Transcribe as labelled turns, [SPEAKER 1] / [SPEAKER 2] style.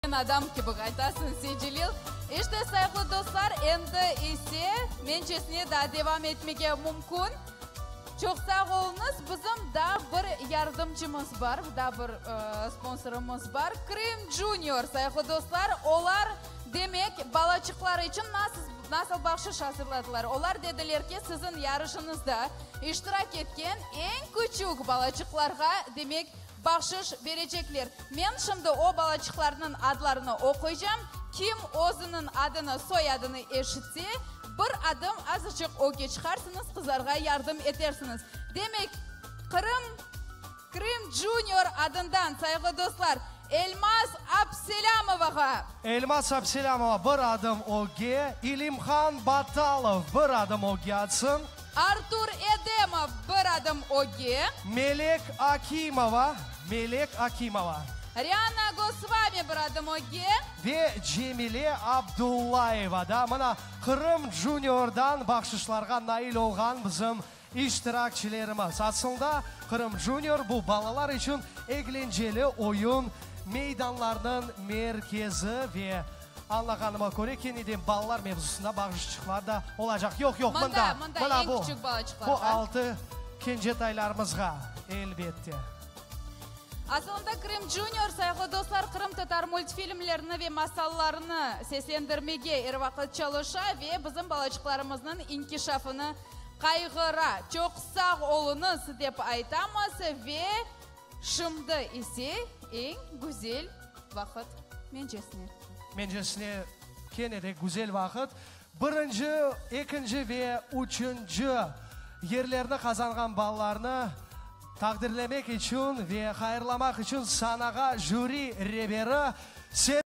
[SPEAKER 1] Sen adam kibi qaytasıñ, Secelil. İşte, sayıqlı dostlar, endi ise mencesine daa devam etmege mümkün. Çoq sağ oluñız. Bizim daa bir yardımcımız bar, daa bir sponsorımız bar, Krım Junior. Sayıqlı dostlar, olar, demek, balaçıqları içün nasıl nasıl bahşış azırladılar? Olar dediler ki, siziñ yarışıñızda iştirak etken eñ küçük balaçıqlarğa, demek, Bahşış berecekler. Men şimdi o balaçıqlarnıñ adlarını oquycam, kim özüniñ adını, soyadını eşitse, bir adım azıcıq öge çıqarsıñız, qızarğa yardım etersiñiz. Demek, Qırım, Krım Junior adından, sayğlı dostlar, Elmaz Abselâmovağa! Elmaz
[SPEAKER 2] Abselâmova bir adım öge, İlimhan Batalov bir adım öge atsın! Artur
[SPEAKER 1] Edemov, Bir adım öge. Melek
[SPEAKER 2] Akimova, Melek Akimova. Riana
[SPEAKER 1] Gosvami, Bir adım öge. Ve Cemile
[SPEAKER 2] Abdullayeva da mına Qırım Junior'dan bahşışlarğa nail olğan bizim iştirakçilerimiz. Asılda Qırım Junior, bu balalar içün eglenceli oyun meydanlarınıñ merkezi ve Añlağanıma köre, kene de balalar mevzusında bağışçıqlar da olacaq. Yoq, yoq, mında, mına bu,
[SPEAKER 1] bu
[SPEAKER 2] altı kenceetaylarımızğa, elbette.
[SPEAKER 1] Asılında Krım Junior, sayıqlı dostlar, qırımtatar multfilmlerini ve masallarını seslendirmege er vaqıt çalışa ve bizim balaçıqlarımıznıñ inkişafını qayğıra. Çoq sağ oluñız, dep aytamız ve. Şimdi ise eñ güzel vaqıt, mencesine. Mencesine
[SPEAKER 2] kene de güzel vaqıt. Birinci, ekinci ve üçünci yerlerni qazanğan ballarnı taqdirlemek içün ve hayırlamaq içün sanağa jüri reberi Se.